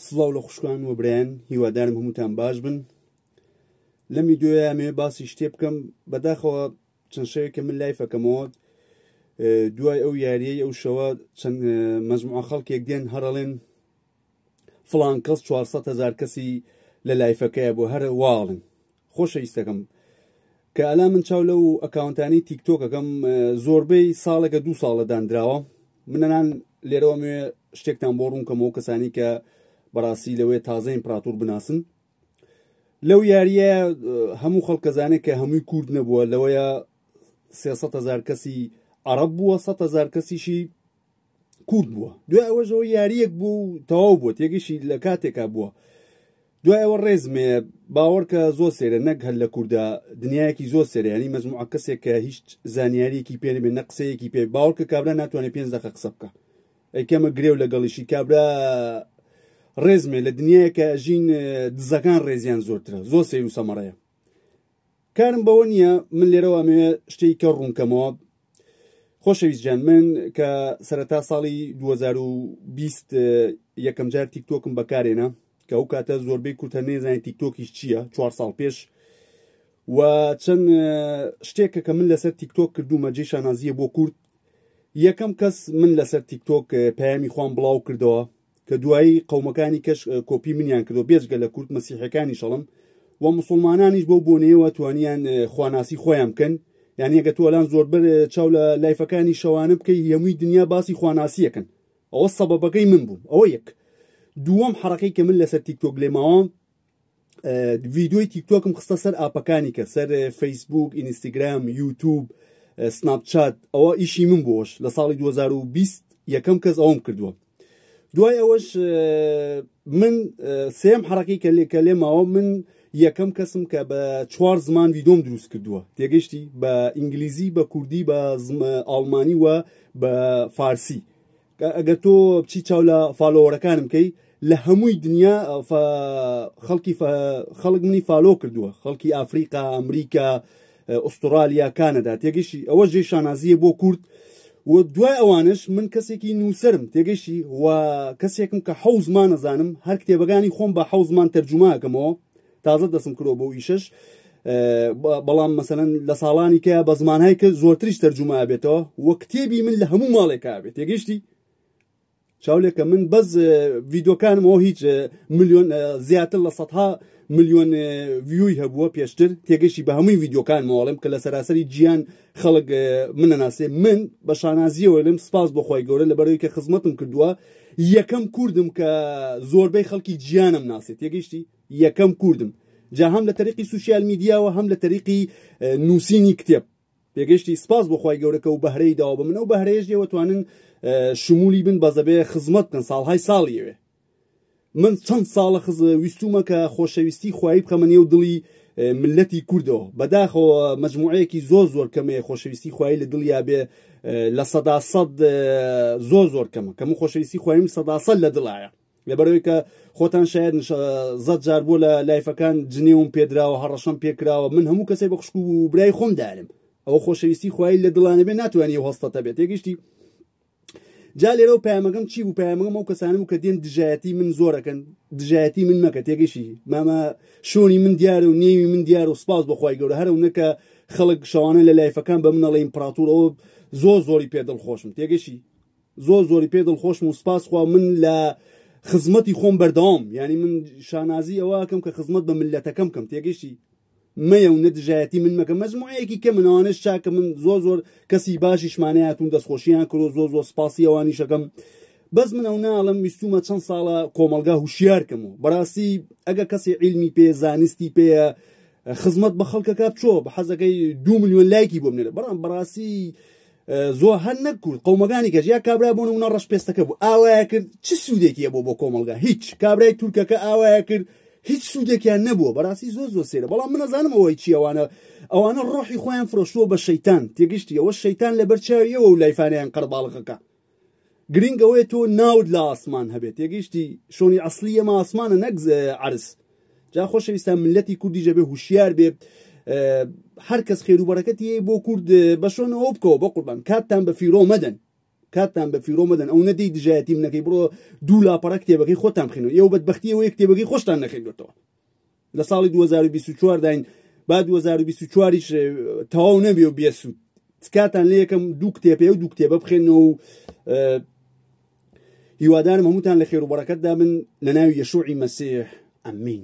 سڵاو لە خوشکان و برێن هیوادارم هەمووتان باش بن لەم ویددیوە مێ باسی شتێ بکەم بەداخەوە چەند شەوێک کە من لای فەکەمەوە دوای ئەو یاریەی ئەو شەوە چەند مەزموع خەڵکێک دێن هەرڵێن فلان کەس 400 هزار کەسی لە لایفەکەیە بۆ هەر واڵن خۆشەویستەکەم کە ئەلا من چاو لەو ئەکاونتانی تیکتۆکەکەم زۆربەی ساڵێکە دوو ساڵە دانراوە منەنان لێرەوە مێ شتێکتان بۆ ڕوونکەمەوە کەسانی کە بەڕاستی لەوەیە تازە ئیمپراتور بناسن لەو یاریە هەموو خەڵکەزانێک کە هەمووی کورد نەبووە لەوەیە سێسە هزار کەسی عرب بووە سە هزار کەسیشی کورت بووە دوای ئەوەشەوە یاریەک بوو و تەواو بووە تێگەشی لە کاتێکا بووە دوای ئەوە ڕێزمێ باوەڕکە زۆر سێرە نەک هەر لە کووردا دنیایەکی زۆر سێریانی مەزموعە کەسێک کە هیچ زانیاریەکی پێ بێ نە قسەیەکی پێ باوەڕکە کابرا ناتوانێت پێنج دقە قسە بکە ئەیکەمە گرێو لەگەڵیشی کابرا ڕێزمێ لە دنیایەکە ژین دزەکان ڕێزیان زۆرترە زۆر سیر و سەمەڕەیە کارم بەوە نییە من لێرەوە ئەمەوێ شتێک کە ڕوونکەمەوە خۆشەویست جان من کە سەرەتا ساڵی 2020 یەکەم جار تیکتۆکم بەکارێنە کە ئەو کاتە زۆربەی کورتە نێزانین تیکتۆکیش چییە چوار ساڵ پێش و چەند شتێکە کە من لەسەر تیکتۆک کردومە جێ شانازیە بۆ کورد یەکەم کەس من لەسەر تیکتۆک پەیامی خۆم بڵاو کردەوە کە دوایی قەومەکانی کەش کۆپی منیان کردو بێجگە لە کورد مەسیحەکانی شەڵم و مسلمانانیش بەو بۆنەیەوە توانیان خواناسی خۆیان بکەن یعنی ئەگە تۆلان زۆربەر چاو لە لایفەکانی شەوانە بکەی هەمووی دنیا باسی خواناسیەکەن ئەوە سەبەبەکەی من بووم ئەوە یەک دووەم حڕەکەی کە من لەسەر تیکتۆک لێماوە ڤیدیۆی تیکتۆکم خستە سەر ئاپەکانی کە سەر فەیسبوک ئینستاگرام یوتوب سناپچات ئەوە ئیشی من بۆش لە ساڵی 2020 یەکەم کەس ئەوم کردووە دوای ئەوەش من سێم حڕەکەی کە لێ کە لێ ماوە من یەکەم کەسم کە بە چوار زمان ویدۆم دروست کردووە تێگەشتی بە ئینگلیزی بە کوردی بە ئاڵمانی وە بە فارسی ئەگەر تۆ بچی چاو لە فالۆوەرەکانم بکەی لە هەمووی دنیا خەڵکی خەڵک منی فالۆ کردووە خەڵکی ئافریقا ئەمریکا ئوسترالیا کانەدا تێگەشی ئەوە ژێ شانازیە بۆ کورد و دوای ئەوانش من کەسێکی نووسرم تێگەشی و کەسێکم کە حەوزمان نەزانم هەر کتێبەکانی خۆم بە حەوزمان تەرجوماکەمەوە تازە دەسم کرۆ بۆ ئیشش بەڵام مەسەن لە ساڵانی کە بە زمانهایی کە زۆرتریش تەرجوما بێتەوە وە کتێبی من لە هەموو ماڵێکا بێت تێگەشتی چاولێکە من بەس ڤیدۆکانمەوە هیچ میلیۆن زیاتر لە سەها میلیۆن ویوی هەبووە پێشتر تێگەشتی بە هەمووی ڤیدۆکان ماڵم کە لە سەراسەری گیان خەڵک منەناسێ من بە شانازیەوە لەم سپاس بۆخوای گەورە لە بەرەوەی کە خزمەتم کردووە یەکەم کوردم کە زۆربەی خەڵکی گیانم ناسێت تێگەشتی یەکەم کوردم جا هەم لە تەریقی سوسیال میدیاوە هەم لە تەریقی نووسینی کتێب پێگەشتی سپاس بۆ خی گەورەکە و بەهرەی داوە بە من ئەو بەهرەیەش لێوە توانن شمولی بن بەزەبێ خزمەت بکەن ساڵهای ساڵیەوێ من چەند ساڵە خز ویستومە کە خۆشەویستی خوای بخەمە نێو دڵی ملەتی کوردەوە بەداخەوە مجموعەیەکی زۆر زۆر کەمێ خۆشەویستی خوای لە دڵیا بێ لە سەدا سەد زۆر زۆر کەمە کەم خۆشەویستی خوایم سەدا سەد لە دڵایە لەبەرەوەی کە خۆتان شاید زەت جار بۆ لە لایفەکان جنێوم پێدراوە هەڕەشەم پێکراوە من هەموو کەسێک بە خوشکو و برای خۆم دارم ئەوە خۆشەویستی خوای لە دڵانە بێ ناتوانانی هەستەتە بێت تێگەشتی جا لێرە و پامەگەم چی بوو پامەگەم ئەو کەسانم کە دێن دژایەتی من زۆرەکەن دژایەتی من مەکە تێگەشی مامە شۆنی من دیارە و نێوی من دیارە و سپاس بەخوای گەورە هەرو نەکە خەڵک شەوانە لە لایفەکان بە منەڵی ئیمپراتورەوە زۆر زۆری پێ دڵ خۆشم تێگەشی زۆر زۆری پێ دڵخۆشم و سپاس خوا من لە خزمەتی خۆم بەردەوام یعنی من شانازی ئەوەکەم کە خزمەت بە ملەتەکەم کەم تێگەشتی مەیە و نەدژایەتی من مەکە مەزموعەیەکی کە منەوانش چاکە من زۆر زۆر کەسی باشیشمانەیەتون دەستخۆشییان کرۆ زۆر زۆر سپاسی ئەوانیشەکەم بەس من ئەو ناڵم ویستومە چەند ساڵە کۆمەلگا هوشیارکەم و بەڕاستی ئەگە کەسی علمی پێ زانستی پێە خزمەت بە خەڵکەکە بچۆ بە حەزەکەی دو میلیۆن لایکی بۆ منێرە بەڵام بەڕاستی زۆ هەر نەک کورد قومەکانی کەژ یا کابرا بۆ نمونە ڕەش پێستەکە بوو ئاوایە کرد چ سوودێکی بۆ بۆ کۆمەلگا هیچ کابرای تورکەکە ئاوایە کرد هیچ سوودێکیان نەبووە بەڕاستی زۆر زۆر سێرە بەڵام منەزانم ئەوەی چیەوانە ئەوانە ڕۆحی خۆیان فرۆشتووە بە شەیتان تێگەشتی ئەوە شەیتان لەبەر چاویەوە و لایفانیان قەرباڵغەکە گرینگ ئەوەیە تۆ ناوت لە ئاسمان هەبێت تێگەیشتی شۆنی ئەسلی ئەمە ئاسمانە نەک عرس جا خۆشەویستان ملەتی کوردی جەبێ هوشیار بێ هەر کەس خێرو بەرەکەتی بۆ کورد بە شۆنەوە بکەوە بە قوربان کاتتان بە فیرۆ مەدەن کاتتان بە فیرۆ مەدەن ئەو نەدەی دژایەتی منەکەی بڕۆ دوو لاپەڕە کتێبەکەی خۆتان بخێنەوە ئێوە بەدبختی ئەوەیە کتێبەکەی خۆشتان نەخێندوێتەوە لە ساڵی 2024 داین با 2024 یش تەواو نەبێ و بێسوود تکاتان لە یەکەم دوو کتێپێ و دوو کتێبە بخێنەوە و هیوادارم هەمووتان لە خێر و بەڕەکەتدا من لە ناوی یەشوعی مەسیح ئەمین